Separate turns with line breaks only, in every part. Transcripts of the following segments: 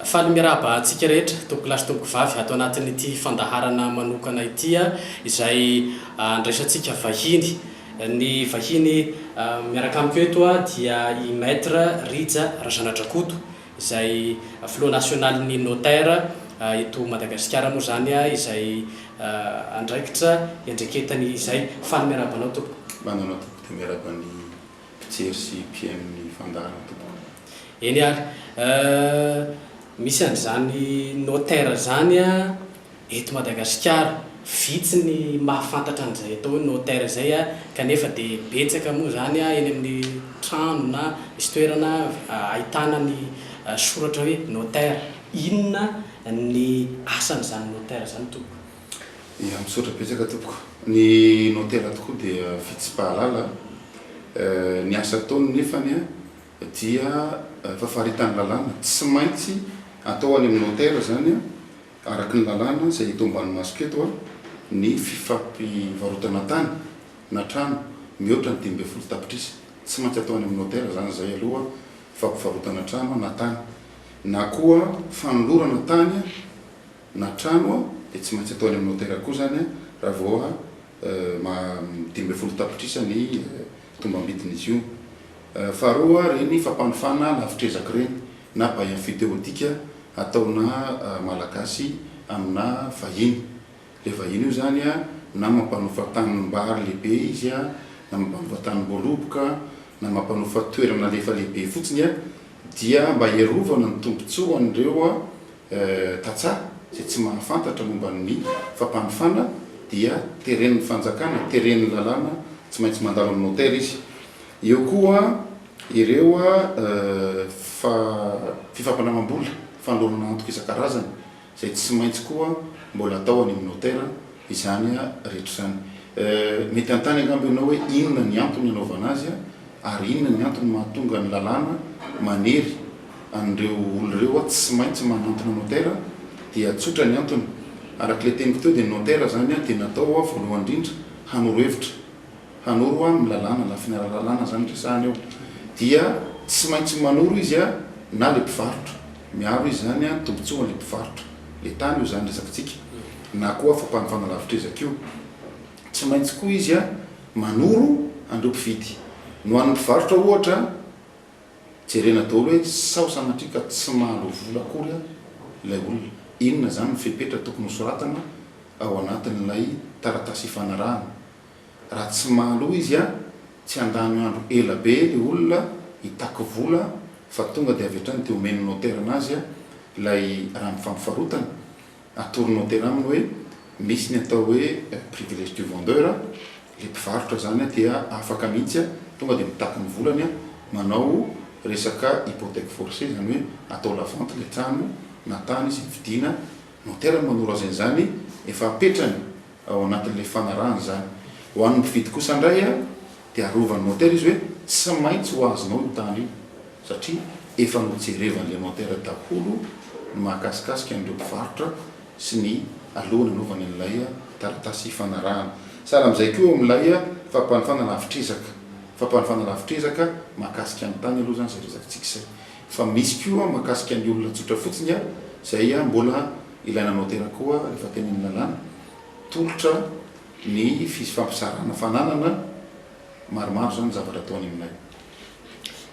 Faly miraba antsika rehetra tompokolahy sy tompokovavy ato anatin'ity fandaharana manokana ity izay andraisantsika vahiny. Ny vahiny miaraka amiko eto dia i Maître Rija Razanadrakoto izay filoha nasionalin'ny Notaire eto Madagasikara moa izany izay andraikitra iandreketany izay. Faly miarahaba anao tompoko. Manana tompoko dia
miarahaba ny mpijery sy mpihaino ny fandaharana tompoko. Eny ary,
misy an'izany Notaire izany. Eto Madagasikara, vitsy ny mahafantatra an'izay atao hoe notaire izay kanefa dia betsaka moa izany eny amin'ny trano na misy toerana ahitana ny soratra hoe notaire. Inona ny asan'izany notaire izany tompoko? Ia, misaotra
betsaka tompoko. Ny notaire tokoa dia fitsipahalala. Ny asa ataony nefany dia efa faritan'ny lalàna, tsy maintsy atao any amin'ny notaire izany. Araka ny lalàna izay hita ao ambany masoko eto, ny fifampivarotana tany na trano mihoatra ny dimy ambin'ny folo tapitrisa, tsy maintsy atao any amin'ny notera izany izay aloha fampivarotana trano na tany, na koa fanolorana tany na trano dia tsy maintsy atao any amin'ny notera koa izany raha vao dimy ambin'ny folo tapitrisa ny tombam-bidin'izy io. Faharoa, ireny fampanofana lavitr'ezaka ireny na bain futeotika ataona Malagasy amina vahiny. Ilay vahiny io izany na mampanofa tanimbary lehibe izy, na mampanofa tanimboaloboka, na mampanofa toerana alefa lehibe fotsiny dia mba hiarovana ny tombontsoan'ireo. tantsaha izay tsy mahafantatra momba ny fampanofana dia teren'ny fanjakana, teren'ny lalàna, tsy maintsy mandalo amin'ny notaire izy. Eo koa ireo fifampanaovam-bola, fanolorana antoka isan-karazany izay tsy maintsy koa mbola atao any amin'ny notaire. izany rehetra izany. Mety hanontany angamba ianao hoe inona ny antony hanaovana azy ary inona ny antony mahatonga ny lalàna manery an'ireo olona ireo hoe tsy maintsy manantona notaire? Dia tsotra ny antony. Araka ilay teniko teo dia ny notaire izany dia natao voalohany indrindra hanoro hevitra, hanoro ny lalàna, lafiny ara-lalàna izany no resahana eo. Dia tsy maintsy manoro izy na ilay mpivarotra, miaro izy izany ny tombontsoan'ilay mpivarotra ilay tany, io izany resakantsika. na koa fampanofana lavitr'ezaka io. Tsy maintsy koa izy manoro an'ireo mpividy. Ny ho an'ny mpivarotra, ohatra, jerena daholo hoe sao sanatria ka tsy mahaloa vola akory ilay olona. Inona izany ny fepetra tokony hosoratana ao anatin'ilay taratasy ifanarahana? Raha tsy mahaloa izy, tsy handany andro ela be ilay olona hitaky vola fa tonga dia avy hatrany dia omen'ny notaire-ny azy ilay rambom-fampivarotana. Atolony hotel aminy hoe misy ny atao hoe privilège du vendeur, ilay mpivarotra izany dia afaka mihitsy tonga dia mitaky ny volany manao resaka hypothèque forcée, izany hoe atao la vente ilay trano na tany izay vidiana, ny hotel no manoro azy an'izany, efa apetrany ao anatin'ilay fanarahana izany. Ho an'ny mpividy kosa indray. Dia arovan'i Montaigne izy hoe tsy maintsy ho azonao io tany io satria efa nojerevan'Andriamantaira daholo ny mahakasikasika an'ireo mpivarotra sy ny aloha nanaovany an'ilay taratasy ifanarahana. Sahala amin'izay koa eo amin'ilay fampanofana lavitr'ezaka, fampanofana lavitr'ezaka mahakasika ny tany aloha izany izay resafintsika izay. Fa misy koa mahakasika ny olona tsotra fotsiny izay mbola ilaina notera koa rehefa tenenin'ny lalàna, tolotra ny fifampizarana fananana maromaro zany zavatra ataony aminay.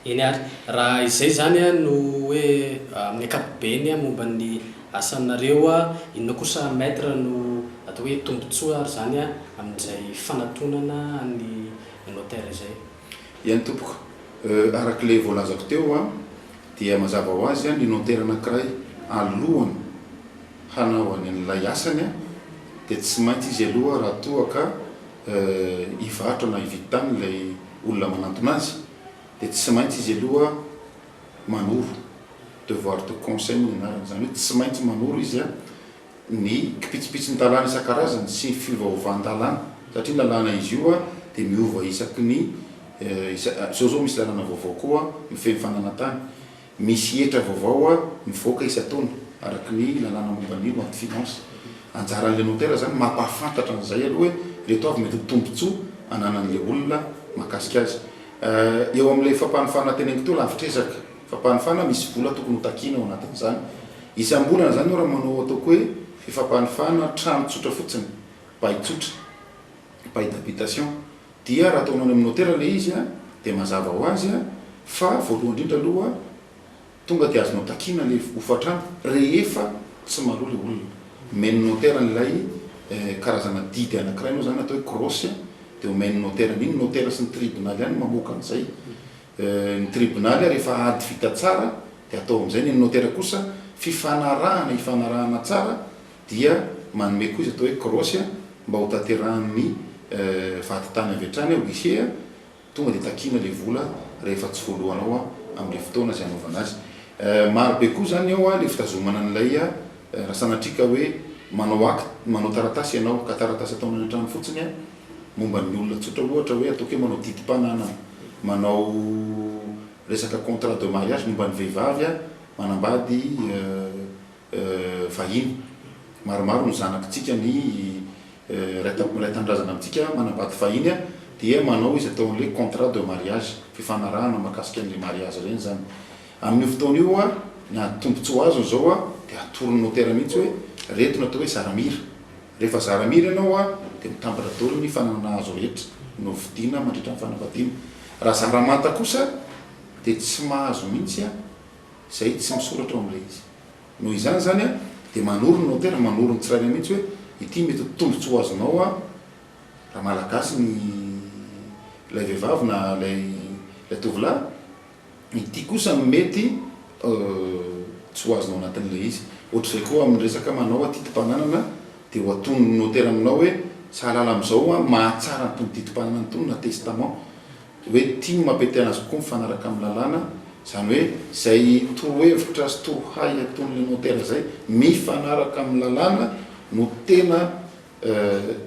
Eny ary raha izay zany no hoe amin'ny ankapobeny momba ny asanareo, inona kosa Maître no atao hoe tombotsoa ary zany amin'izay fanatonana an'i Notaire izay? Eny tompoko,
arak'ilay voalazako teo dia mazava ho azy ny Notaire anankiray alohany hanaovany an'ilay asany dia tsy maintsy izy aloha raha toa ka hivarotra na hividy tany ilay olona manantona azy dia tsy maintsy izy aloha manoro, devoir de conseil moa ny anarany, izany hoe tsy maintsy manoro izy an ny kipitsipitsin-dalàna isan-karazany sy ny fiovaovan-dalàna satria ny lalàna izy io dia miova isaky ny, izao izao misy lalàna vaovao koa mifehy ny fananan-tany, Misy hetra vaovao mivoaka isan-taona araka ny lalàna momba ny loi de finance. Anjaran'ilay notera izany ny mampahafantatra an'izay aloha hoe ireto avy mety ho tombontsoa ananan'ilay olona mahakasika azy. Eo amin'ilay fampanofanana teneniko teo, lavitr'ezaka fampanofana, misy vola tokony ho takiana ao anatin'izany isam-bolana izany. Io raha manao ataoko hoe fifampanofana trano tsotra fotsiny, bail tsotra, bail d'habitation, Dia raha ataonao any amin'ny notera ilay izy dia mazava ho azy fa voalohany indrindra aloha tonga dia azonao takiana ilay hofantrano rehefa tsy maloha ilay olona. Omen'ny notera an'ilay karazana didy anankiray moa izany atao hoe croce dia omen'ny notera an'iny. Ny notera sy ny tribonaly ihany no mamoaka an'izay. Ny tribonaly rehefa ady vita tsara dia atao amin'izay. Ny an'ny notera kosa fifanarahana ifanarahana tsara dia manome koa izy atao hoe krosy mba ho tanterahan' ny vady tany avy hatrany hoe he a, tonga dia takiana ilay vola rehefa tsy voalohanao amin' ilay fotoana izay hanaovana azy. Maro be koa izany ao ilay fitazomana an' ilay raha sanatria ka hoe manao akt, manao taratasy ianao ka taratasy ataonao any an-trano fotsiny momba ny olona tsotra ohatra hoe ataoko hoe manao didim-pananana, manao resaka contrat de mariage momba ny vehivavy manambady. vahiny. Maromaro ny zanakitsika ny Ray Tampo miray Tanindrazana amintsika manambady vahiny dia manao izy atao an'ilay contrat de mariage, fifanarahana mahakasika an'ilay mariazy ireny izany. Amin'io fotoana io ny ady tombontsoa azony izao dia atoron'ny notera mihitsy hoe reto no atao hoe zaramira. Rehefa zaramira ianao dia mitambatra daholo ny fananana azo rehetra novidiana mandritra ny fanambadiana. Raha zaramanta kosa dia tsy mahazo mihitsy izay tsy misoratra ao amin'ilay izy. Noho izany izany an, dia manoro ny notera, manoro ny tsirairay mihitsy hoe ity mety ho tombontsoa azonao raha Malagasy ny ilay vehivavy na ilay ilay tovolahy, ity kosa no mety tsy ho azonao anatin'ilay izy. Ohatr'izay koa amin'ny resaka manao atidim-pananana dia ho atonin'ny notera aminao hoe sahalala amin'izao aho, mahatsara ny tombontidimpananana itony na testament hoe tim ampiateana azy kokoa mifanaraka amin'ny lalàna, izany hoe izay torohevitra sy torohay ataon'ilay notera izay mifanaraka amin'ny lalàna no tena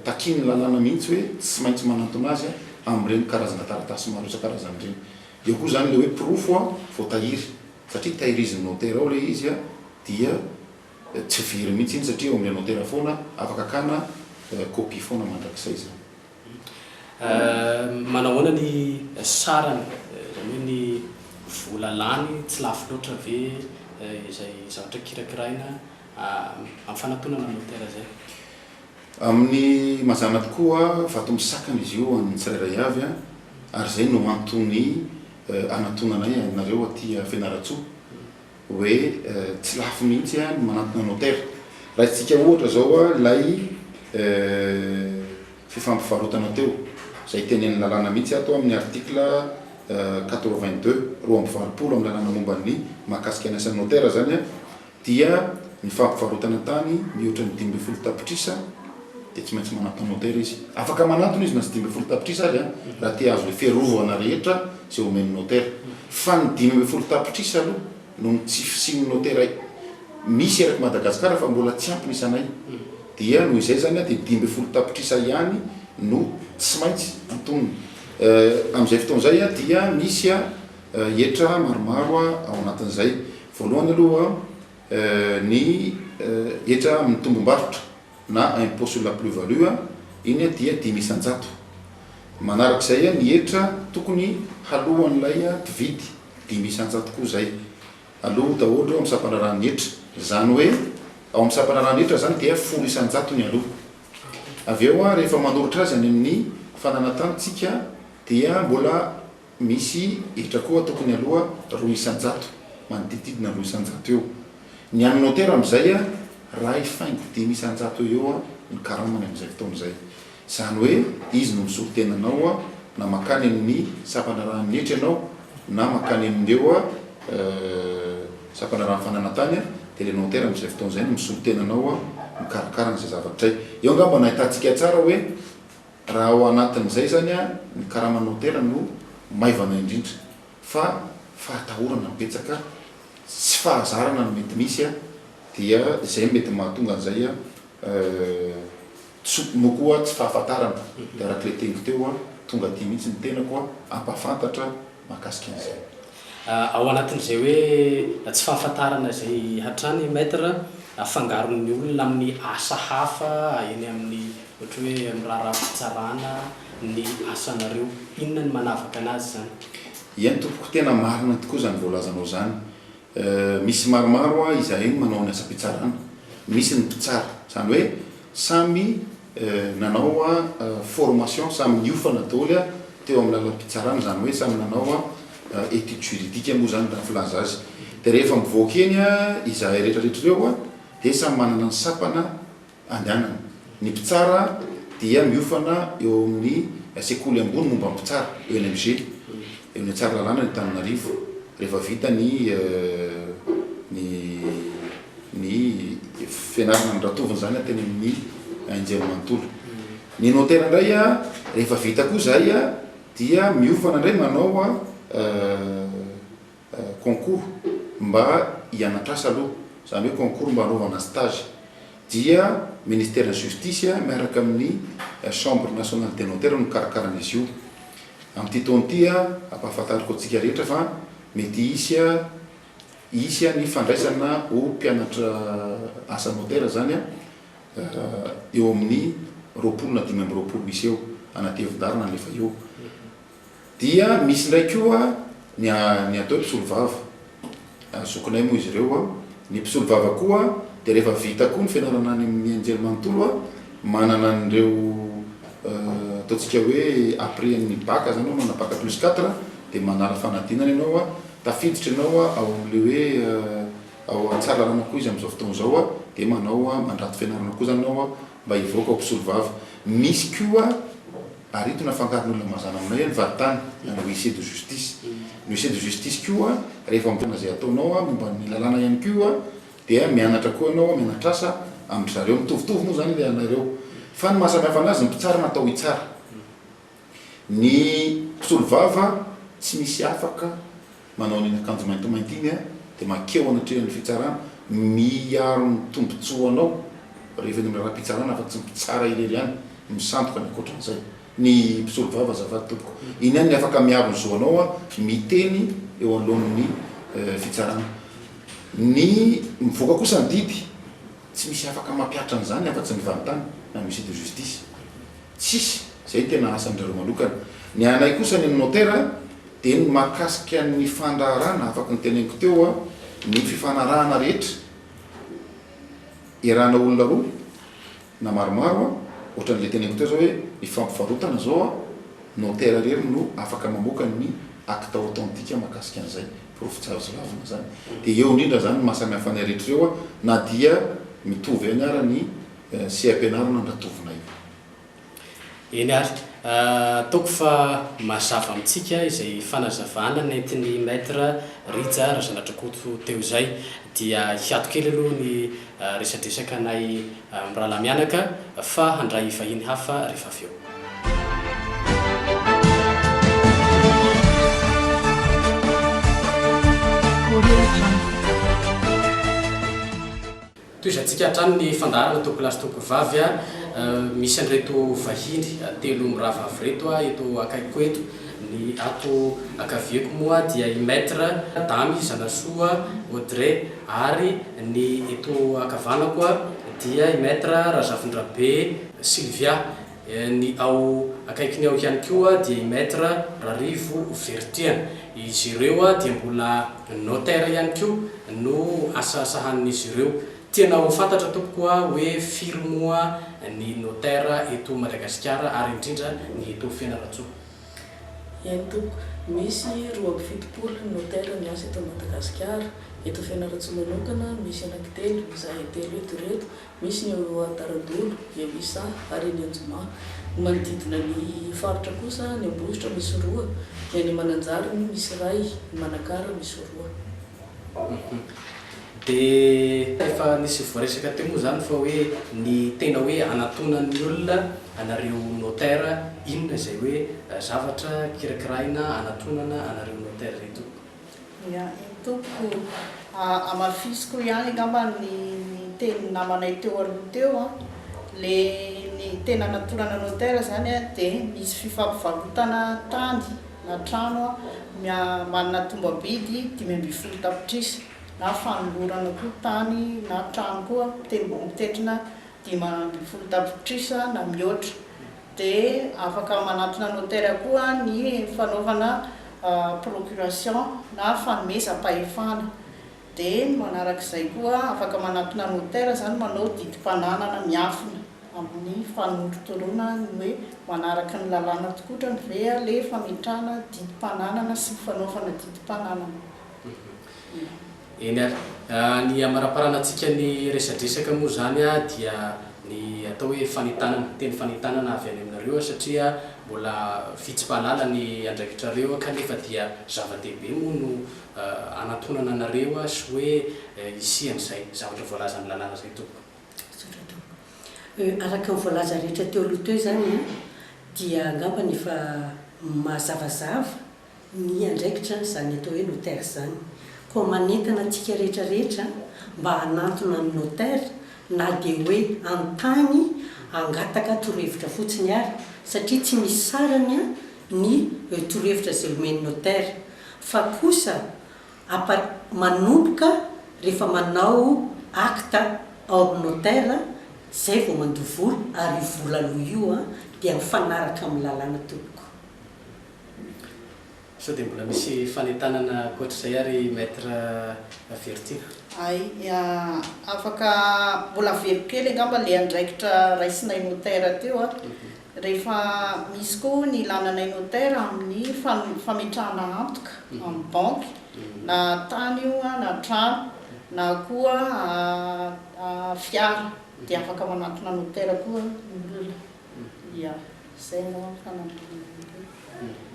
takian'ny lalàna mihitsy hoe tsy maintsy manantona azy amin'ireny karazana taratasy maro isan-karazany ireny. Eo koa izany ilay hoe porofo voatahiry, satria tahirizin'ny notera ao ilay izy dia tsy very mihitsy iny satria eo amin'ilay notera foana, afaka akana kopia foana mandrakizay izany.
Manao ahoana ny sarany, izany hoe ny vola lany, tsy lafo loatra ve izay zavatra kirakiraina amin'ny fanatonana motera izay? Amin'ny
mazàna tokoa, vato misakana izy io ho an'ny tsirairay avy, ary izay no antony anatonanay anareo aty Fianarantsoa, hoe tsy lafo mihitsy ny manantona notera. Raisintsika ohatra zao ilay fifampivarotana teo, izay tenenin'ny lalàna mihitsy ato amin'ny article quatre-vingt-deux, roa amby valopolo, amin'ny lalàna momba ny mahakasika ny asan'ny notera zany dia ny fampivarotana tany mihoatra ny dimy ambin'ny folo tapitrisa dia tsy maintsy manantona notera izy. Afaka manantona izy na tsy dimy ambin'ny folo tapitrisa ary raha te hahazo le fiarovana rehetra izay omen'ny notera. Fa ny dimy ambin'ny folo tapitrisa aloha noho ny tsy fisian'ny notera misy eraky Madagasikara fa mbola tsy ampy ny isanay dia noho izay izany dia dimy ambin'ny folo tapitrisa ihany no tsy maintsy antonina. Amin'izay fotoana izay dia misy hetra maromaro ao anatin'izay. Voalohany aloha ny hetra amin'ny tombom-barotra. na impôt sur la plus value, iny dia dimy isan-jato. Manaraka izay ny hetra tokony haloan'ilay mpividy, dimy isan-jato koa izay. Aloa daholo ireo amin'ny sampandraharahan'ny hetra. Izany hoe ao amin'ny sampandraharahan'ny hetra izany dia folo isan-jato ny aloa. Avy eo rehefa manoritra azy any amin'ny fananantanintsika dia mbola Misy hetra koa tokony aloha roa isan-jato, manodidididna roa isan-jato eo. Ny an'ny motera amin'izay raha hifaingo dimy isan-jato eo ho eo ny karamany amin'izay fotoana izay. Izany hoe izy no misolo tena anao na mankany amin'ny sampanarahan'ny hetra ianao na mankany amin'ireo sampanarahan'ny fananantany dia ilay motera amin'izay fotoana izay no misolo tena anao mikarakara an'izay zavatra izay. Eo angamba no ahitantsika tsara hoe. Raha ao anatin'izay izany ny karaman'ny hotely no maivana indrindra fa fahatahorana betsaka, tsy fahazarana no mety misy dia izay no mety mahatonga an'izay tsy no koa tsy fahafantarana dia arak'ilay teniko teo tonga aty mihitsy ny tenako hampahafantatra. mahakasika an'izay. Ao
anatin'izay hoe tsy fahafantarana izay hatrany Maître afangaron'ny olona amin'ny asa hafa eny amin'ny ohatra hoe amin'ny raharaham-pitsarana ny asanareo. Inona ny manavaka
anazy
izany?
Eny tompoko tena marina tokoa izany
voalazanao
izany. Misy maromaro hoa izahay no manao ny asam-pitsarana. Misy ny mpitsara. Izany hoe samy nanao hoa formation, samy niofana daholo hoa teo amin'ny lalam-pitsarana. Izany hoe samy nanao hoa étude juridique moa izany raha filaza azy. Dia rehefa mivoaka eny izahay rehetra rehetra ireo hoa dia samy manana ny sampana andehanana. Ny mpitsara dia miofana eo amin'ny sekoly ambony momba ny mpitsara, ENMG, eo amin'ny Tsaralalàna ny Antananarivo, rehefa vita ny ny ny fianarana ny ratovony izany teny amin'ny anjerimanontolo. Ny notera indray rehefa vita koa izay dia miofana indray manao concours mba hianatr'asa aloha, izany hoe concours mba hanaovana stage, dia Ministeran'ny Justice miaraka amin'ny Chambre Nationale des Notaires no mikarakara an'izy io. Amin'ity taona ity, ampahafantariko antsika rehetra fa mety hisy hisy ny fandraisana ho mpianatra asa notera izany eo amin'ny roapolo na dimy amby roapolo misy eo, anatevin-dalana alefa eo. Dia misy indray koa ny ny atao hoe mpisolovava, zokinay moa izy ireo, ny mpisolovava koa dia rehefa vita koa ny fianarana any amin'ny anjely manontolo manana an'ireo ataontsika hoe après ny bac zany hoe manana bac plus quatre dia manala fanadinana ianao tafiditra ianao ao amin'ilay hoe ao an tsaralalana koa izy amin'izao fotoana izao dia manao mandrato fianarana koa zany ianao mba hivoaka ho mpisolovava, misy koa Ary ito nafangaron'olona mazana aminao io ny varitany, ilana huissier de justice. Ny huissier de justice koa rehefa mijanona izay ataonao momba ny lalàna ihany koa dia mianatra koa ianao, mianatr'asa amin-dry zareo. Mitovitovy moa izany ilay anareo. Fa ny mahasamihafa anazy, ny mpitsara natao hitsara. Ny mpisolovava tsy misy afaka manao an'iny akanjo maintimainty iny dia mankeo anatrehan'ny fitsarana miaro ny tombotsoanao rehefa eny amin'ny lalam-pitsarana fa tsy ny mpitsara irery ihany no misandoka ny ankoatran'izay ny mpisolovava azafady tompoko iny ihany ny afaka miaro ny zo anao miteny eo anoloan'ny fitsarana ny mivoaka kosa ny didy tsy misy afaka mampihatra an'izany afa-tsy ny vantany na ny huissier de justice Tsisy, zay tena asan-drareo manokana. Ny anay kosa any amin'ny notera dia ny mahakasika ny fandraharahana, afaky ny teneniko teo a, ny fifanarahana rehetra erana olona roa na maromaro a, ohatran'ilay teneniko teo zao hoe ny fampivarotana zao a, notera irery no afaka mamoaka ny acte authentique mahakasika an'izay, porofo tsy azo lavina zany. Dia eo indrindra zany ny maha samy hafa anay rehetra ireo a, na dia mitovy ihany ara ny. sy ampianarina andratovinay.
Eny ary, ataoko fa mazava amintsika izay fanazavana nentin'i Maître Rija Razanadrakoto teo izay. Dia hiato kely aloha ny resadresaka anay mirahalahy mianaka fa handray vahiny hafa rehefa avy eo. Tohizantsika hatrany ny fandaharana Toko lahy sy Toko vavy a! Misy an'ireto vahiny telo mirahavavy ireto eto akaikiko eto. Ny ato ankaviako moa dia i Maître, Damy Zanasoa, Audrey ary ny eto ankavanako dia i Maître Razafindrabe Sylvia. Ny ao akaikiny ao ihany koa dia i Maître Rarivo Vertian. Izy ireo dia mbola notaire ihany koa no asa sahanin'izy ireo. Tena ho fantatra tompoko hoe firy moa ny notaire eto Madagasikara ary indrindra ny eto Fianarantsoa?
Eny tompoko, misy roa amby fitopolo ny notaire miasa eto Madagasikara. Eto Fianarantsoa manokana misy anankitelo, izahay telo eto ireto. Misy ny ao Antaradolo, Iavisa ary eny Anjomà. Ny manodidina ny faritra kosa, ny Ambositra misy roa, ny any Mananjary no misy iray, ny Manakara misy roa.
Dia efa nisy voaresaka teo moa izany fa hoe ny tena hoe hanantonan'ny olona anareo notaire inona izay hoe zavatra kirakiraina hanatonana anareo notaire ireto? Ia iny
tompoko, hamafisiko ihany angamba ny tenin'ny namanay teo aloha teo an, le ny tena natorana notaire zany an de misy fifampivarotana tany na trano an, manana tombabidy dimy ambin'ny folo tapitrisa na fanolorana koa tany na trano koa mitetrina dimy ambin'ny folo tapitrisa na mihoatra. dia afaka manatona notera koa ny fanaovana procuration na fanomezam-pahefana, dia ny manaraka izay koa afaka manatona notera izany manao didim-pananana miafina amin'ny fanorotoroana ny hoe manaraka ny lalàna tokotrany ve ilay fametrahana didim-pananana sy ny fanaovana didim-pananana.
Eny ary, ny hamaraparana antsika ny resadresaka moa izany dia ny atao hoe fanentanana, teny fanentanana avy any aminareo satria mbola vitsy mpahalala ny andraikitrareo kanefa dia zava-dehibe moa no hanantonana anareo sy hoe hisian'izay zavatra voalazan'ny lalàna izay tompoko. Misaotra tompoko. Euh,
araka ny voalaza rehetra teo aloha teo izany dia angambany efa mazavazava. ny andraikitra izany atao hoe notaire izany, koa manentana antsika rehetra rehetra mba hanantona ny notaire na dia hoe an-tany hangataka torohevitra fotsiny ary, satria tsy misy sarany ny torohevitra izay omen'ny notaire, fa kosa apa manomboka rehefa manao acte ao amin'ny notaire, izay vao mandoa vola, ary io vola aloha io dia mifanaraka amin'ny lalàna tompoko.
Sao dia mbola misy fanentanana ankoatr'izay ary Maître Avertina? Aia,
afaka mbola avelo kely angamba ilay andraikitra raisinay notaire teo a! Rehefa misy koa hono ilana anay notaire amin'ny fametrahana antoka amin'ny banky, na tany io na trano na koa fiara dia afaka manantona notaire koa ny olona. Ia, izay angamba no
fanampiana anareo.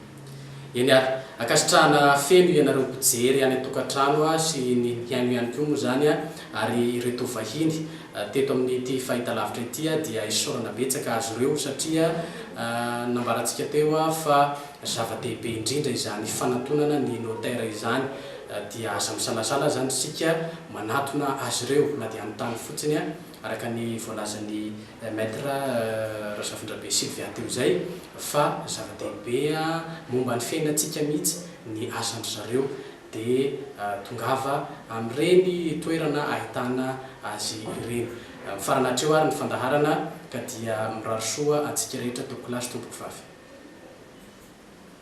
Eny ary, ankasitrahana feno ianareo mpijery any an-tokantrano sy ny mpihaino ihany koa moa izany ary ireto vahiny teto amin'ity fahitalavitra ity dia isaorana betsaka azy ireo satria nambarantsika teo fa zava-dehibe indrindra izany fanantonana ny notaire izany dia aza misalasala izany isika manatona azy ireo na dia anotany fotsiny araka ny voalazan'i Maître Razafindrabe Sylvia teo izay fa zava-dehibe momba ny fiainantsika mihitsy ny asan-dry zareo dia tongava amin'ireny toerana ahitana azy ireny. Mifarana hatreo ary ny fandaharana ka dia mirary soa antsika rehetra Tompokolahy sy Tompokovavy.